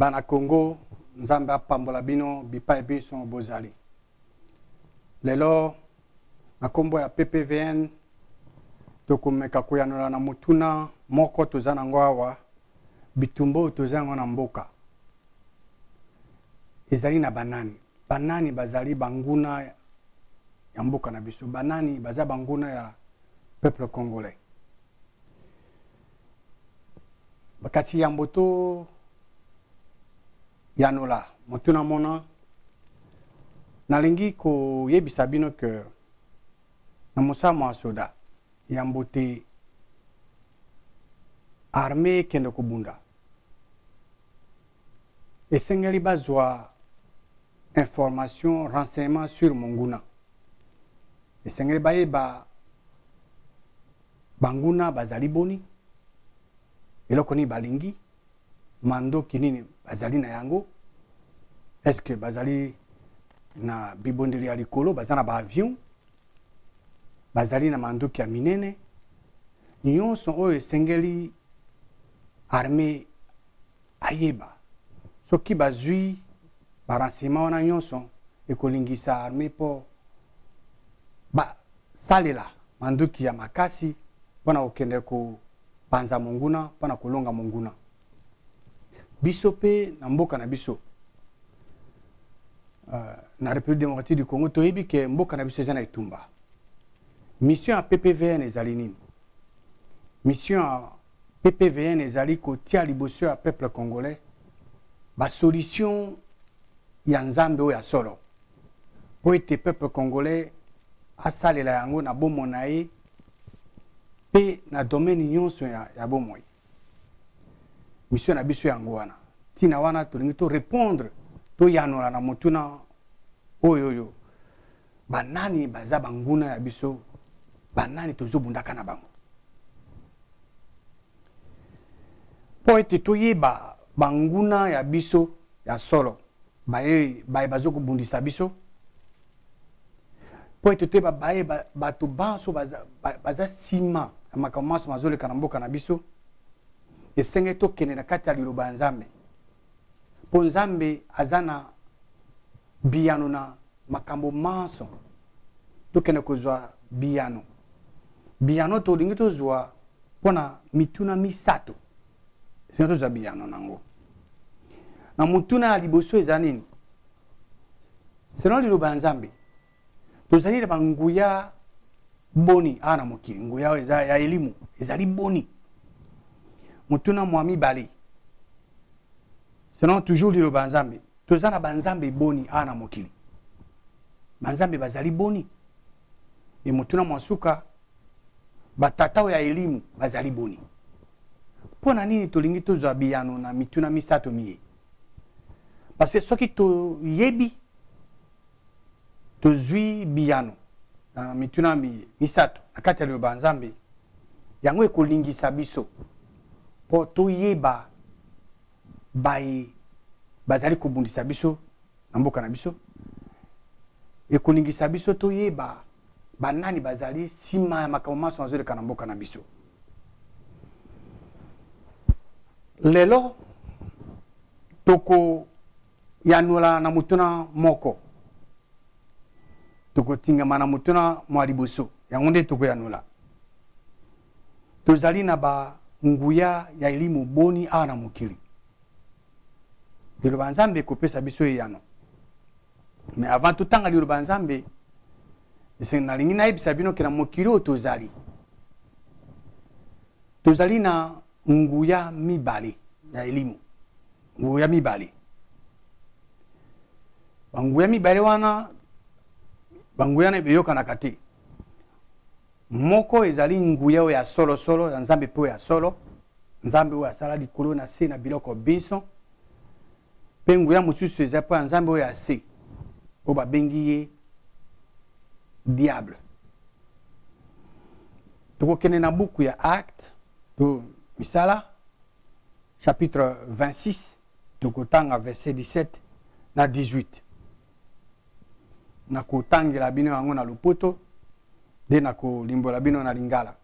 bana congo nzambe apambola bino bipai binso bozali lelo na nkombo ya ppvn tokomeka koyanola na motuna moko toza nango awa bitumba oyo toza yango na mboka ezali na banani banani bazali banguna ya mboka na biso banani baza banguna ya peuple congolais bakati yambo to yanola motuna mona nalingi koyebisa bino ke na mosala mwa soda yambo te arme ekende kobunda esengeli bazwa information renseignement sur monguna esengeli bayeba banguna bazali boni eloko nini balingi mandoki nini bazali na yango est ce que bazali na bibondeli ya likolo baza na baavion bazali na mandoki ya minene nyonso oyo esengeli arme ayeba soki bazwi ba renseignement wana nyonso ekolingisa armee mpo basalela manduki ya makasi mpo na kokende kopanza monguna mpo na kolonga monguna biso mpe na mboka na biso uh, na république démocratique du congo toyebi ke mboka na biso eza na etumba mission ya ppvn ezali nini mission ya PPVN ezali kotia liboso ya peuple congolais ba solution ya nzambe oyo ya solo mpo ete peuple congolais asalela yango na bomo na ye mpe na domaine nyonso ya, ya bomoi misio na biso yango wana ntina wana tolingi torepondre toyanola na motuna oyo oyo banani baza banguna ya biso banani tozobundaka na bango mpo ete toyeba banguna ya biso ya solo baye baye bazokobundisa biso mpo ete toyeba baye bato banso baza nsima ya makambo manso mazoleka na mboka na biso esengeli tokende na kati ya liloba ya nzambe mpo nzambe aza na biyano na makambo manso tokende kozwa biyano biyano tolingi tozwa mpo na mituna misato esina tozwa biyano na yango na motuna ya liboso eza nini selon liloba ya nzambe tozali na banguya boni awa na mokili nguya oyo eza ya elimu ezali boni motuna mwa mibale sinon toujours liloba ya nzambe toza na banzambe boni awa na mokili banzambe bazali boni e motuna mwa suka batata oyo ya elimu bazali boni mpo na nini tolingi tozwa biyano na mituna misato miye parce soki toyebi tozwi biyano na mituna misato na kati ya liloba ya nzambe yango ekolingisa biso mpo toyeba baye bazali kobundisa biso na mboka na biso ekolingisa biso toyeba banani bazali nsima ya makambo manso mazoleka na mboka na biso lelo toko Yanola na motuna moko. Tokotingama na motuna mwa liboso, yango nde tokoyanola. Tozali na ba nguya ya elimu boni awa na mokili? Liloba Nzambe ekopesa biso eyano. Mais avant totanga liloba Nzambe, esengi nalingi nayebisa bino ke na mokili oyo tozali tozali na nguya mibale ya elimu nguya mibale banguya mibale wana banguya na eyokanaka te moko ezali nguya oyo ya solosolo ya nzambe mpe oyo ya solo nzambe oyo asala likolo na se na biloko binso mpe nguya mosusu eza mpo ya nzambe oyo ya se oyo babengi ye diable tokokende na buku ya acte to misala chapitre 26 tokotanga verset 17 na 18 nakotangela bino yango na lopoto nde nakolimbola bino na lingala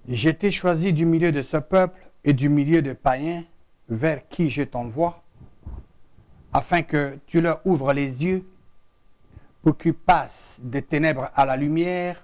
je t'ai choisi du milieu de ce peuple et du milieu des païens vers qui je t'envoie afin que tu leur ouvres les yeux pour qu'ils passent des ténèbres à la lumière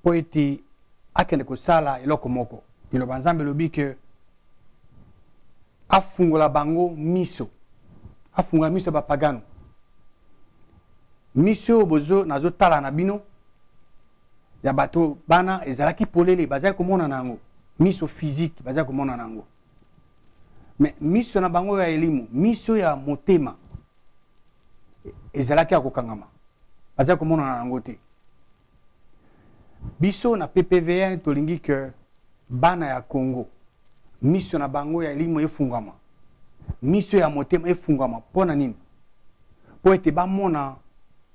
mpo ete akende kosala eloko moko liloba nzambe elobi ke afungola bango miso afungola miso ya bapagano miso oyo bozo nazotala na bino ya bato bana ezalaki polele bazali komona na yango miso physique bazali komona na yango me miso na bango ya elimu miso ya motema e, ezalaki ya kokangama bazali komonana yango te biso na ppvn tolingi ke bana ya congo miso na bango ya elimu efungama miso ya motema efungama mpo na nini mpo ete bamona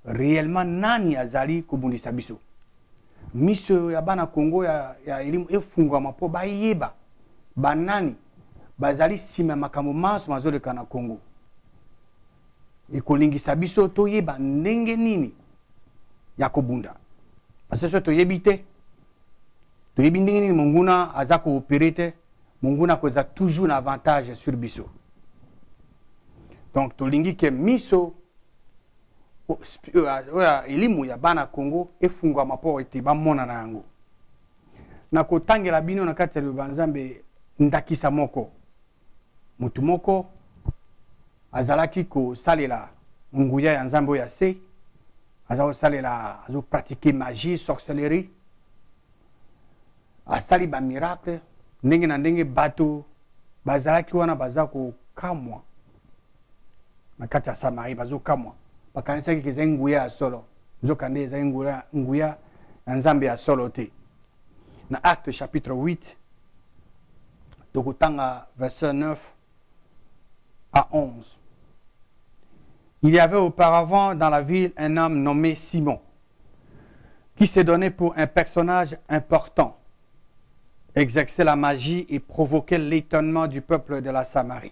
réellement nani azali kobundisa biso miso ya bana Congo ya, ya elimu efungwama mpo bayeba banani bazali nsima ya makambo manso mazoleka na Congo. Ekolingisa biso toyeba ndenge nini ya kobunda, parce soki toyebi te, toyebi ndenge nini monguna aza koopere te, monguna akozala toujours na avantage sur biso. Donc tolingi ke miso oyo elimu ya bana congo efungwama mpo ete bamona na yango nakotangela bino na kati ya liloba nzambe ndakisa moko motu moko azalaki kosalela nguya ya nzambe oyo ya se aza kosalela azopratike magie sorcellerie asali bamiracle ndenge na ndenge bato bazalaki wana baza kokamwa na kati ya samarie bazokamwa bakanisaki ke ezali nguya ya solo nzokande ezali nguya, nguya ya nzambe ya solo te na acte chapitre 8 tokotanga verset 9 à 11 il y avait auparavant dans la ville un homme nommé simon qui s'est donné pour un personnage important exerçait la magie et provoquait l'étonnement du peuple de la samarie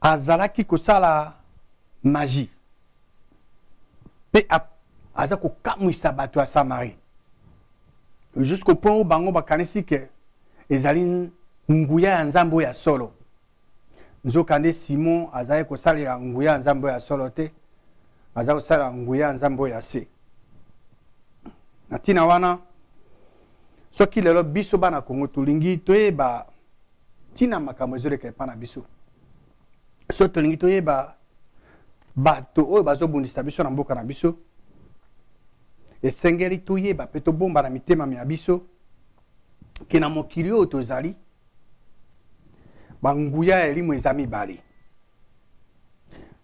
azalaki kosala maji mpe aza kokamwisa bato ya samarie jusqu'au point oyo bango bakanisi ke ezali nguya ya nzambe oyo ya solo nzokande simon azalaki kosalela nguya ya nzambe oyo ya solo te aza kosalela nguya ya nzambe oyo ya se na ntina wana soki lelo biso bana kongo tolingi toyeba ntina makambo ezoleka epai na biso so tolingi toyeba bato oyo bazobundisa biso na mboka na biso esengeli toyeba mpe tobomba na mitema mya biso ke na mokili oyo tozali banguya ya elimo eza mibale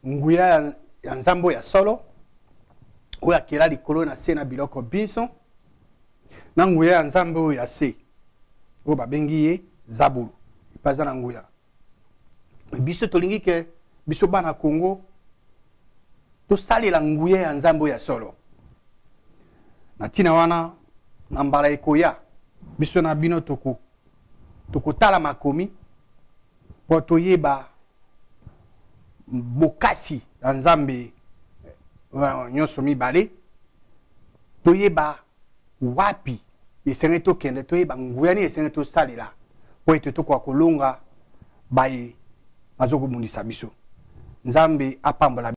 nguya ya, ya nzambe ya solo oyo akela likolo na se na biloko binso na nguya ya nzambe oyo ya se oyo babengi ye zabulu epai aza na nguya biso tolingi ke biso bana congo tosalela nguya ya nzambe oyo ya solo na ntina wana na mbala ekoya biso na bino tokotala toko makomi mpo toyeba bokasi ya nzambe euh, nyonso mibale toyeba wapi esengeli tokende toyeba nguya nini esengeli tosalela mpo ete tokoka kolonga baye bazokobundisa biso nzambe apambola